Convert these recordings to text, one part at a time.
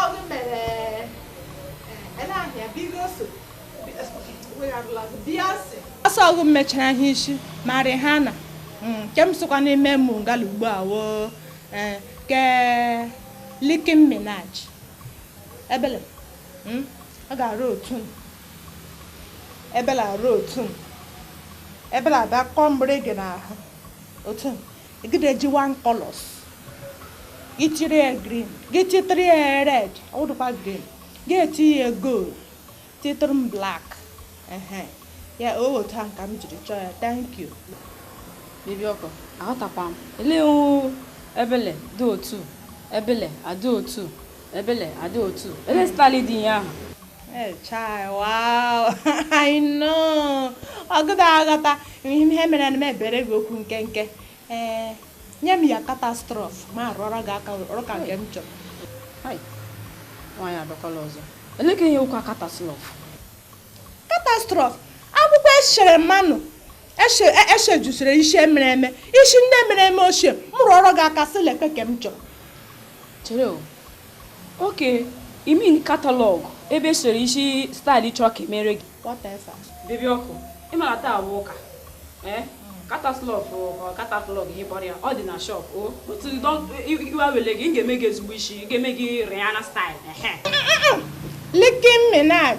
Ọdụ mere ele ahịa bigo so wegharụla bịa sị ọsọ ọ wụ m mechara ha isi ma Rihanna mm, nke m sokwa na-eme mụ ngala ugbu a woo eh, ke Nicki Minaj ebele mm, ọ ga-arụ otu m ebele arụ otu m ebele abịa kọọ mgbịrịgị n'ahụ otu m egideji one colors gị chiri ya green gị chitiri ya red ọ wụdụkwa green gị eti ya gold titiri m black ehe ya o otu ahụ ka m jiri chọọ ya thank you baby ọkụ aghọtakwa m elee o ebele dị otu ebele adị otu ebele adị otu ele stali dị ihe ahụ Hey, chai, wow. I know. Ọgụda aghọta ihe mere na m ebere gị okwu nkenke. Ee, nye m ya catastrophe m arụọrọ gị aka ọrụ ka nke m chọrọ. Hai, nwaanyị abịakwala ọzọ. Olee ka ihe wụkwa catastrophe? Catastrophe, akwụkwọ e shere mmanụ e shejusiri isi mere eme isi ndị mere eme ochie m rụọrọ gị aka sị lekwe ke m chọrọ. Chere o. Okay, you mean catalog ebe e sere isi style ị chọrọ ka e mere gị? Whatever. Baby ọkụ, ị mara taa wụ ụka. Eh? Catalog or catalog ihe kpọrọ ya, ọ dị na shop. O, otu iwe ewele gị, m ga-eme gị ezigbo isi, m ga-eme gị Rihanna style. Ehe. Nicki Minaj.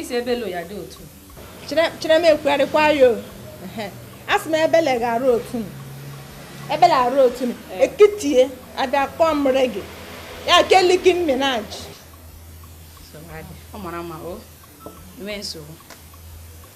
isi ebele ya dị otu chere m ekwugharịkwa ya asị m ebele ga-arụ otu m ebele arụ otu m eh. ekitie abịa kpọọ mmiri gị ya ke Nicki Minaj ọ mara mma o nwee nsogbu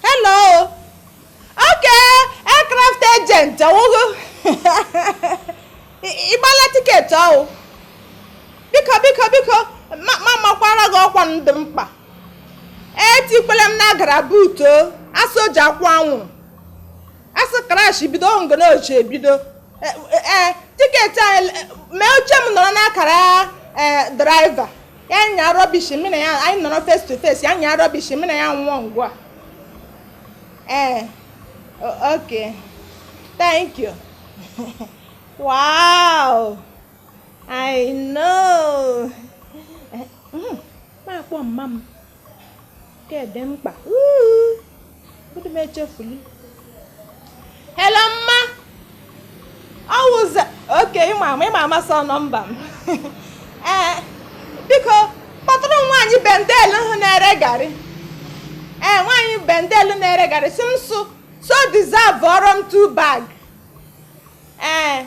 hello okay aircraft agent ọ wụ gị ị gbala ticket ọwụ biko biko biko m amakwara gị ọkwa dị mkpa etikwele m n'akara boot a sị o ji akwụ anwụrụ a sị crash bido ngo na o ji ebido ee ticket anyị mee oche m nọrọ n'akara driver ya nya rubbish mụ na ya anyị nọrọ face to face ya nya rubbish mụ na ya nwụọ ngwa ee ok thank you wow i know m akpọ mma m Ke dị mkpa. Ụdị m echefuli. Hello mma. Ọ wụza oke ịma ama ịma amasị number m. Ee, eh, biko kpọtụrụ nwaanyị Bendel ahụ na-ere garị. Ee, eh, nwaanyị Bendel na-ere garị sị m sụ so deserve-ọrọ m two bag. Ee. Eh.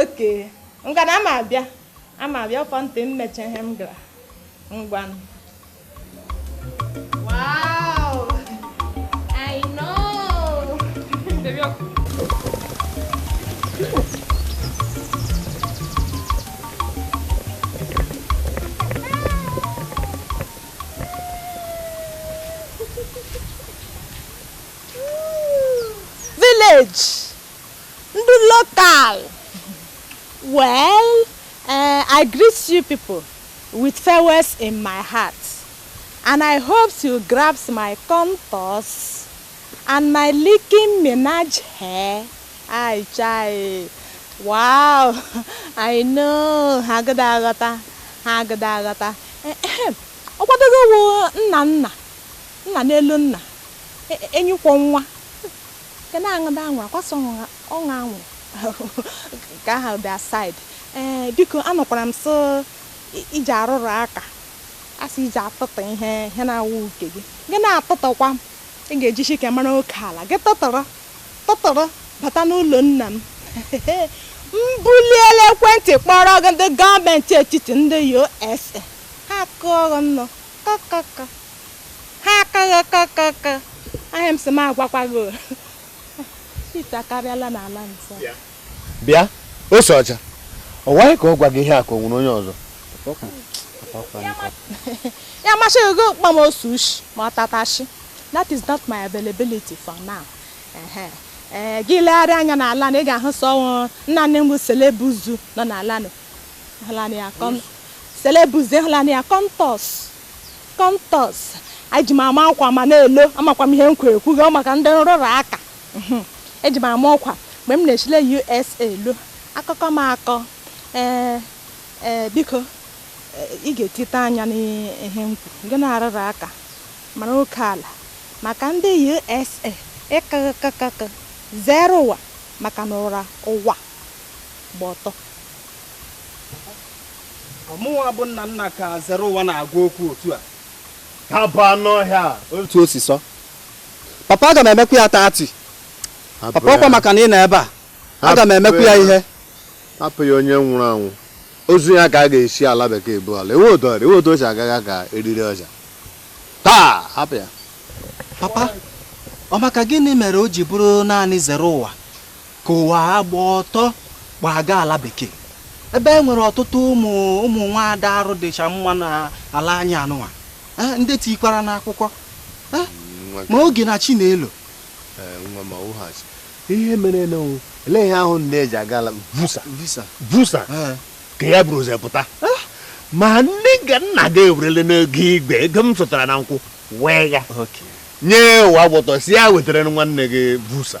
okay ngwanụ ama abịa ama abịa ọ fọ ntị m meche ihe m gara ngwanụ village Ndị local. Well, uh, I greet you people with farewells in my heart. And I hope you grab my contours and my licking menage hair. I chai. Wow, I know. Ha agada aghọta. Ha agada aghọta. Ọ kwa odogwu nna nna. Nna n'elu nna. E, e, Enyi kwọ nwa. Nke na-aṅụda anwụrụ akwasa ọṅụṅa ọṅụ anwụrụ ka ha dị aside ee eh, biko anụkwara m sị i ji arụrụ aka a sị i ji atụtụ ihe ihe na-awụ nke gị gị na-atụtụkwa ị ga-ejisi ike mara oke ala gị tụtụrụ tụtụrụ bata n'ụlọ nna m mbuliela ekwentị kpọrọ gị ndị gọọmenti etiti ndị USA ha kụọ gị nnọọ kakaka ha kakakaka ahịa m sị m agwakwa gị ite akarịala n'ala nso bịa ose ọcha ọ wụ gị ka ọ gwa gị ihe a ka o nwere onye ọzọ ya masị gị kpọ m ose ushie ma ọ tatashi that is not my availability for now ee eh, gị legharịa anya n'ala na ị ga-ahụ sọ nna nna bụ selebuzu nọ n'ala selebuzu hụlanị ya kọntọs Kọntọs, Eji m ama ọkwa ma na-elo, amakwa m ihe m kwuru ekwughị, ọ maka ndị nrụrụ aka. Mhm. Eji m ama ọkwa mgbe m na-echile USA elo, akụkọ m akọ. Ee, ee, biko, ee, ị ga-etite anya n'ihe m kwuru, gị na-arụrụ aka, mara oke ala maka ndị USA ịkakakakaka, Zereụwa maka na ụra ụwa gba ọtọ. ọ mụwa bụ nna nna ka Zereụwa na-agwa okwu otu a ka bụ anụ ọhịa otu o si sọ papa aga m emekwa ya tati papa ọkwa maka na ị nọ ebe a aga m emekwa ya ihe hapụ ya onye nwụrụ anwụ ozu ya ka a ga-esi ala bekee bulaa ewe otu ọrịa ewe otu o si agaghị ka eriri ọja taa hapụ ya papa ọ maka gịnị mere o ji bụrụ naanị Zereụwa ka ụwa agba ọtọ gbaga ala bekee ebe e nwere ọtụtụ ụmụ ụmụ nwaada arụ dịcha mma n'ala anyị anụnwa eh, ndị tikwara n'akwụkwọ eh, ma oge na chi na-elo eh, ihe mere e ji ele ihe ahụ na-eji aga ala visa visa ka ya bụrụ ụzọ pụta ma nne ga nna ga ewerele n'ego igwe ego m sụtara na nkwụ wee ya nye ụwa agba ọtọ sị ya wetara nwanne gị visa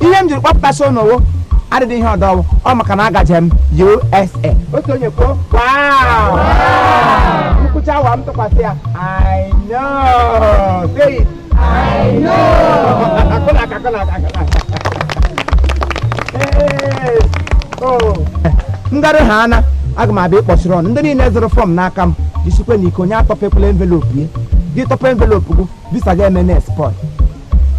ihe m jiri kpọpụtasị unu wụ adịghị ihe ọdọ ọ wụ ọ maka na agaje m USA otu onye kwuo nkwụcha awa m tụkwasị ya I know say it I know akụna aka akụna aka akụna aka Hey, oh. m garu ha ana aga m abịa ịkpọsịrị unu ndị niile zụrụ fọm n'aka m jisikwa na ike onye atọpekwula envelopu ya gị tọpụ envelopu gị visa ga-eme na spoil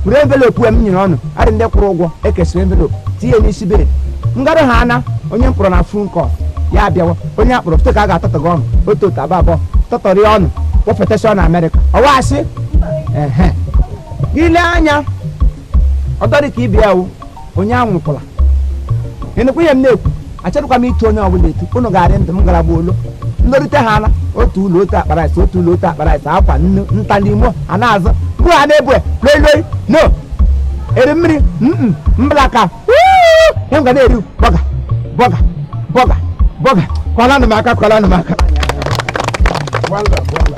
were envelopu m nyere unu adị ndị kwụrụ ụgwọ e kesịrị envelopu tinye n'isi bed m garu ha ana onye m kpọrọ na fon kọl ya abịawa onye akpọrọ foto ka a ga-atụtụga unu otu otu abụọ abụọ tụtụrụ unu kpọfetasịa unu amerịka ụwa asị ehe gị lee anya ọdọ dị ka ibe ya wụ onye anwụkwala ị nụkwa ihe m na-ekwu achọrọkwa m ịtụ onye ọbụla etu unu ga-adị ndụ m gara gbuo ụlọ m lorute ha ala otu ụlọ otu akpa rice otu ụlọ otu akpa rice ọkwa unu nta n'Imo a na-azụ mgbe ha na-ebu loi loi unu eri mmiri mm mbla ka wuu, ihe m ga na-eri bọga bọga bọga bọga kụọlanụ m aka kụọlanụ m aka Wala, wala.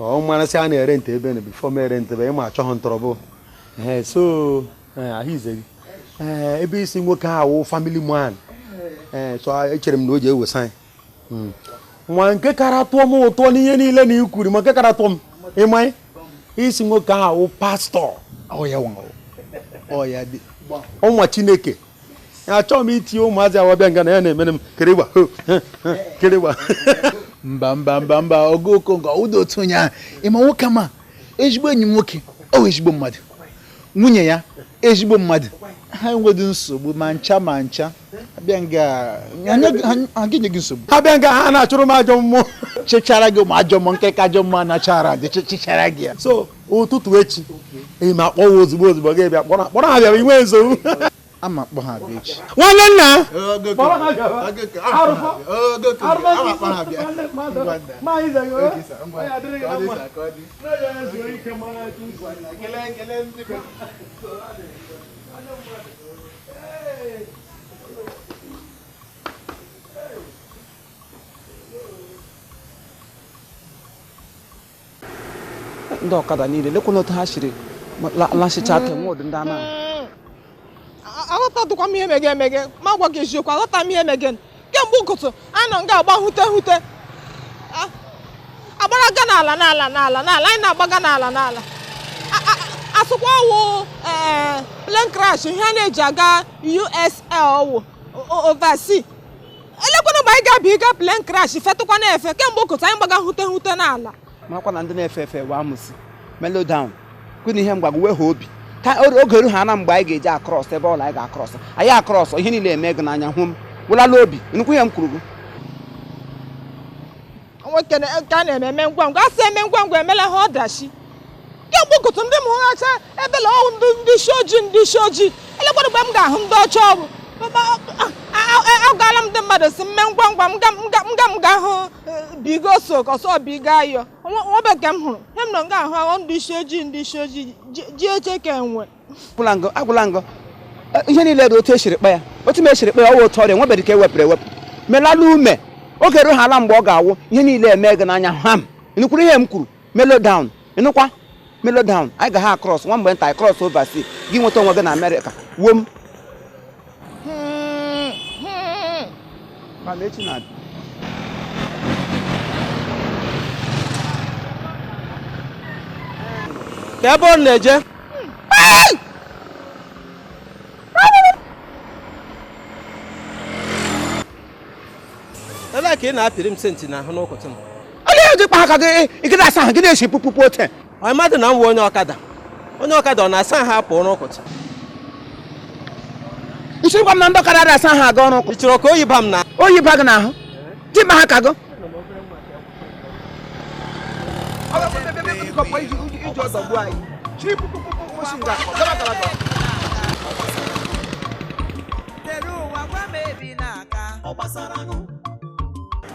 ọ mara sị a na-erent ebe na before m erent ebe ị ma achọghị m trouble ee so ee, ahụ ize gị ee ebe ị sị nwoke a wụ family man ee so a- echere m na o ji ewesa anyị Mm. nwa nke kara tụọ m ụtọ n'ihe niile na i kwuru ma nke kara tụọ m ị ma na ị sị nwoke a wụ pastọ ọya nwa ọya dị ọ nwa chineke achọghị m itinye ụmụazị a wa abịa nga na ya na-emere m kịrịgba kịrịgba mba mba mba mba ogo okongo ụda otu onye ahụ ị ma nwoke ma ezigbo enyi m nwoke ọ ezigbo mmadụ nwunye ya ezigbo mmadụ ha enweghị nsogbu ma ncha ma ncha abịa nga ha enye gị nsogbu abịa nga ha na-achụrụ m ajọ mmụọ chechara gị ma ajọ mmụọ nkịrịka ajọ mmụọ na-achara gị chechara gị ya so ụtụtụ echi eyi m akpọwa ozugbo ozugbo gị bịa kpọrọ kpọrọ ha bịara inwe nsogbu a ma m akpọ ha abịa echi nwanne nna ndị ọkada niile lekwana otu ha siri lasịcha aka nwe ụdị ndị anaghị aghọtatụkwa m ihe mege emege ma gwa gị eziokwu aghọta m ihe mege kemgbe ụtụtụ a nọ nga agba hute hute agbara ga n'ala n'ala n'ala n'ala anyị na-agbaga n'ala n'ala a sịkwa ọ wụ eh, plane crash ihe a na-eji aga US ọ wụ oversea elekwanụ mgbe anyị ga-abịa ịga plane crash fetụkwa na-efe kemgbe ụkụtụ anyị gbaga hute hute n'ala makwa na ndị na-efe efe wụ amusu mellow down kwena ihe mgbagwo wee ha obi ka oge eru ha na mgbe anyị ga-eji across ebela anyị ga-across anyị across ihe niile eme gị n'anya hụ m wụlala obi ị nụkwa ihe m kwuru gị nwoke na- nke a na-eme eme ngwa ngwa a sị eme ngwa ngwa emelaha ọdachi kemgbe ụtụtụ ndị m hụghacha ebela ọ wụ ndị ndị isi ojii ndị isi ojii elekwara mgbe m ga-ahụ ndị ọcha ọrụ agaala m ndị mmadụ sị m mee ngwa ngwa m ga m ga m ga m ga hụ bigo so ọsọ bigo ayọ o nwebe nke m hụrụ ihe m nọ nga ahụ ahụ ndị isi ojii ndị isi ojii ji- ji eche ka enwe agwụla ngọ ihe niile dị otu e siri kpaa ya otu m siri kpaa ya ọ wụ otu ọ rị enwebeghị nke e wepụrụ ewepụ melala ume oge ruo ha ala mgbe ọ ga-awụ ihe niile eme gị n'anya ham ị nụkwuru ihe m kwuru mellow down ị nụkwa mellow down anyị ga ha cross nwa mgbe nta anyị cross overseas gị nweta onwe gị na America wom mana Chineke ebe ọ na-eje ebe a ka ị na-apịrị m senti n'ahụ n'ụkụtụ m onye ji kpa aka gị ị gị da asa ahụ gị na-esi kpukpukpu ote Ị madị na m wụ onye ọkada onye ọkada ọ na-asa ahụ apụ ọrụ ụkụtụ nsiri gwa m na ndị ọkada ada asa ahụ aga ọrụ ụkụtụ ị chọrọ ka oyi ba m na oyi ba gị n'ahụ di ma ha ka gụ Tere ụwa gwa m ebe ị na-aga.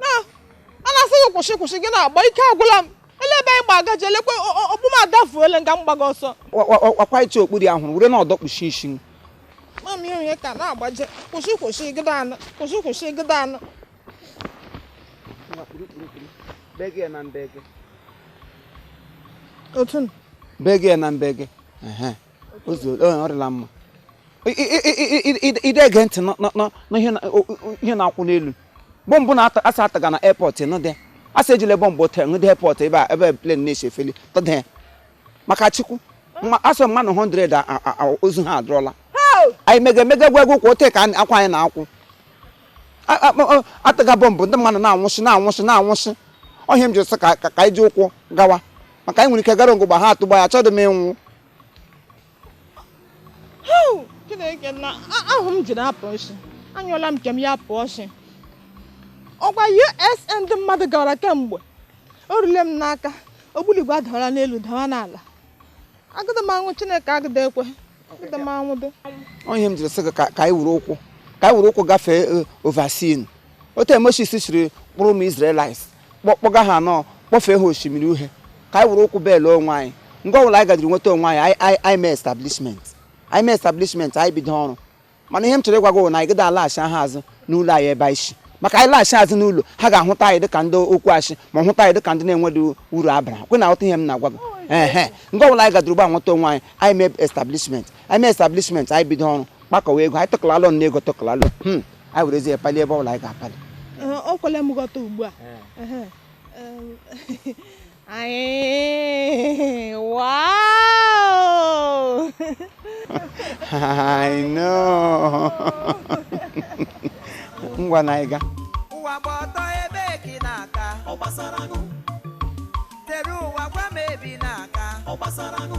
na a na-asị gị kwụsị kwụsị gị na-agba ike agwụla m ele ebe anyị gba agaji lekwe okpu m adafuole nga m gbaga ọsọ ọ kwa iche okpuru ya hụrụ were na ọdọ kpuchi isi m mami onye ka na-agbaje kwụsị kwụsị gịda anụ kwụsị kwụsị gịda anụ otu bege na mbege ị de ege ntị n'ihe na-akwụ n'elu bọmbụ na asị atụga na airport nụ dị asị ejile bọmbụ tel nụ dị airport ebe a ebe plane na-esi efeli tọdee maka chukwu asị mmadụ 100 ozu ha adụrọla anyị mega emega gwa egwu kwa ote ka akwa anyị na-akwụ atụga bọmbụ ndị mmadụ na-anwụsị na-anwụsị na-anwụsị ọ ihe m ji sị ka anyị ji ụkwụ gawa maka anyị nwere ike gara nga ahụ ugbu a ha atụgba ya achọghị m ịnwụ chineke na ahụ m jiri apụ ọchị anyụọla m nke m ya apụ ọchị ọgwa us ndị mmadụ gara kemgbe o rule m n'aka ogbunigwe adawala n'elu dawa n'ala agụdị m anwụ chineke agụdị ekwe agụdị m anwụ dị ọ ihe m jiri sị gị ka anyị wuru ụkwụ ka anyị wuru ụkwụ gafee eh, oversea otu moses siri kpụrụ ụmụ israelites kpọga ha nọ kpọfee ha osimiri uhe ka anyị were ụkwụ bele onwe anyị ngwa ọbụla anyị gaduru nweta onwe anyị anyị mee establishment anyị mee establishment anyị bido ọrụ mana ihe m chọrọ ịgwa gị na anyị gịda alaghachi ha azụ n'ụlọ anyị ebe anyị si maka anyị laghachi azụ n'ụlọ ha ga-ahụta anyị dịka ndị okwu asị ma hụta anyị dịka ndị na-enweghị uru abara kwa ị na-aghọta ihe m na-agwa gị ee ngwa ọbụla anyị gaduru ugbu a nweta onwe anyị anyị mee establishment anyị mee establishment anyị bido ọrụ kpakọwa ego anyị tụkọla ọnụ na ego tụkọla ọnụ hmm. anyị werezi ya pali ebe ọ bụla anyị ga-apali o kwele m ghọta ugbu a anyị wow I know ngwa na ịga ụwa gba ọtọ ebe gị na-aka ọ gbasara nụ tere ụwa gwa m ebi na-aka ọ gbasara nụ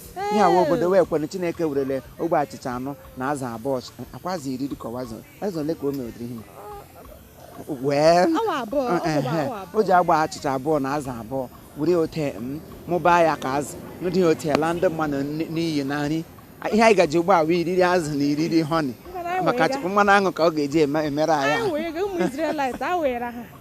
ihe awa obodo wee kwere chineke werele ogbe achịcha anọ na azụ abụọ akwazi iri dịka ọwazi eze ole ka o mewedịrị ihe wee o ji ogbe achịcha abụọ na azụ abụọ were ote mụbaa ya ka azụ ndị ote la ndị mmadụ n'iyi na nri ihe anyị ga-eji ugbu a wa iriri azụ na iriri honey maka mmanụ aṅụ ka ọ ga-eji emere anyị